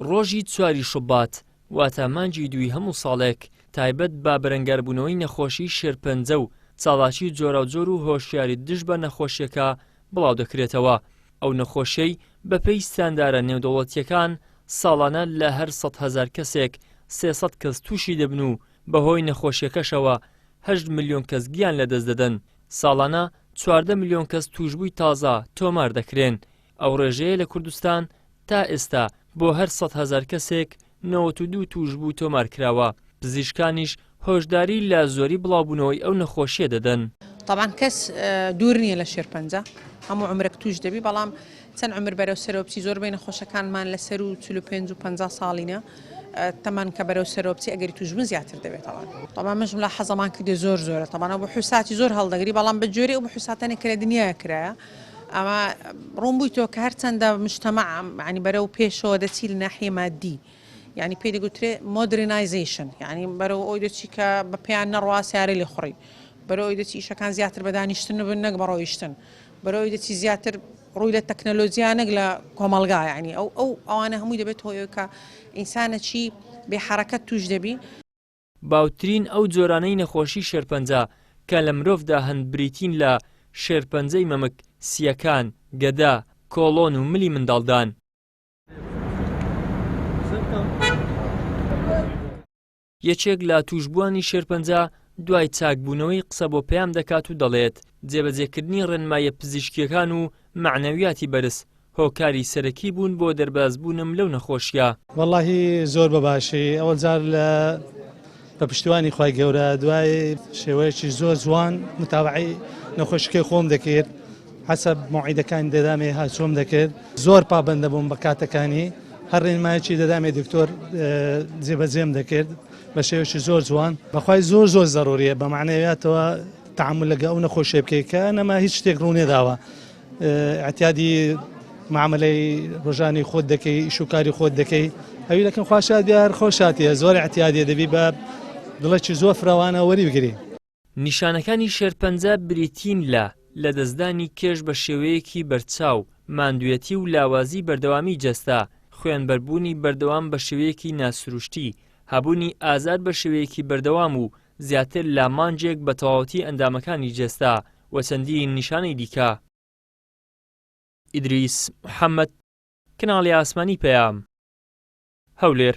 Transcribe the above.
ڕۆژی چواری شوبات واتە مانگی دووی هەموو ساڵێک تایبەت بە بەرەنگاربوونەوەی نەخۆشی شێرپەنجە و چاڵاکی جۆراوجۆر و هۆشیاری دژ بە نەخۆشیەکە بڵاو دەکرێتەوە ئەو نەخۆشیەی بەپێی ستاندارە نێودەوڵەتیەکان ساڵانە لە هەر سەد هەزار کەسێک سێسەد کەس تووشی دەبن و بەهۆی نەخۆشیەکەشەوە هەشت ملیۆن کەس گیان لەدەست دەدەن ساڵانە چواردە ملیۆن کەس تووشبووی تازە تۆمار دەکرێن، ئەو ڕێژەیە لە کوردستان تا ئێستا بۆ هەر سەد هەزار کەسێک نەوەت و دوو تووشبوو تۆمارکراوە، پزیشکانیش هۆشداری لە زۆری بڵاوبوونەوەی ئەو نەخۆشییە دەدەن. تەبعەن کەس دوور نییە لە شێرپەنجە، هەموو عومرێک تووش دەبی، بەڵام چەند عومر بەرەو سەرەوە بچی زۆربەی نەخۆشەکانمان لە سەرو چل و پێنج و پەنجا ساڵینە تەمەن کە بەرەو سەرەوە بچی ئەگەری توشبون زیاتر دەبێت تەوان تەبان مش ملا حەزەمان کردێ زۆر زۆرە تەبان ئەو بحوساتی زۆر هەڵدەگری بەڵام بە جۆری ئەو بحوساتەنێک کە لە دنیا کرایە ئەما ڕوون بووی تۆ کە هەر چەندە مشتەمە عنی بەرەو پێشەوە دەچی لە ناحیە مادی یعنی پێی دەگوترێ مۆدرنایزیشن یعنی بەرەو ئەوی دەچی کە بە پێیان نەڕوا سیارە لێ خوڕی بەرەو ئەوی دەچی ئیشەکان زیاتر بە دانیشتن بن نەک بە ڕۆیشتن بەرەوەی دەچی زیاتر ڕووی لە تەکنەلۆجیا نەک لە کۆمەڵگا یعنی ئەو ئەو ئەوانە هەمووی دەبێت هۆی کە ئینسانەکی بێ حەرەکەت توش دەبی. باوترین ئەو جۆرانەی نەخۆشی شێرپەنجە کە لە مرۆڤدا هەن بریتین لە، شێرپەنجەی مەمک، سییەکان، گەدە، کۆڵۆن و ملی منداڵدان. یەکێک لە تووشبووانی شێرپەنجە دوای چاکبوونەوەی قسە بۆ پەیام دەکات و دەڵێت، جێبەجێکردنی ڕێنماییە پزیشکییەکان و مەعنەویاتی بەرز، هۆکاری سەرەکی بوون بۆ دەربازبوونم لەو نەخۆشییە. وەڵاهی زۆر بە باشی ئەوەل جار لە بە پشتیوانی خوای گەورە دوای شێوەیەکی زۆر جوان متابعەی نەخۆشیکەی خۆم دەکرد، هەسە مەوعیدەکانی دەدامێ هاتووم دەکرد زۆر پابەند دەبووم بە کاتەکانی هەر ڕێنمایەکی دەدامێ دکتۆر جێبەجێم دەکرد بە شێوەشی زۆر جوان بەخوای زۆر زۆر زەڕوریە بە معنەوەتەوە تعامل لەگە ئەو نەخۆشێ بکەیت کە نەما هیچ شتێک ڕوونێ داوە ئەتیادی معاملەی ڕژانی خۆت دەکەی شوکاری خۆت دەکەی ئەوی لەکەم خوشاد دیار خۆشاتە زۆر ئەتیادێ دەبی بە دڵێکی زۆر فرەوانە وەری بگری نیشانەکانی شێرپەنجە بریتین لە، لەدەستدانی کێش بە شێوەیەکی بەرچاو، ماندوێتی و لاوازی بەردەوامی جەستە، خوێنبەربوونی بەردەوام بە شێوەیەکی ناسروشتی، هەبوونی ئازار بە شێوەیەکی بەردەوام و زیاتر لە مانگێک بە تەواوەتی ئەندامەکانی جەستە، و چەندین نیشانەی دیکە. ئیدریس محەمەد، کەناڵی ئاسمانی پەیام، هەولێر.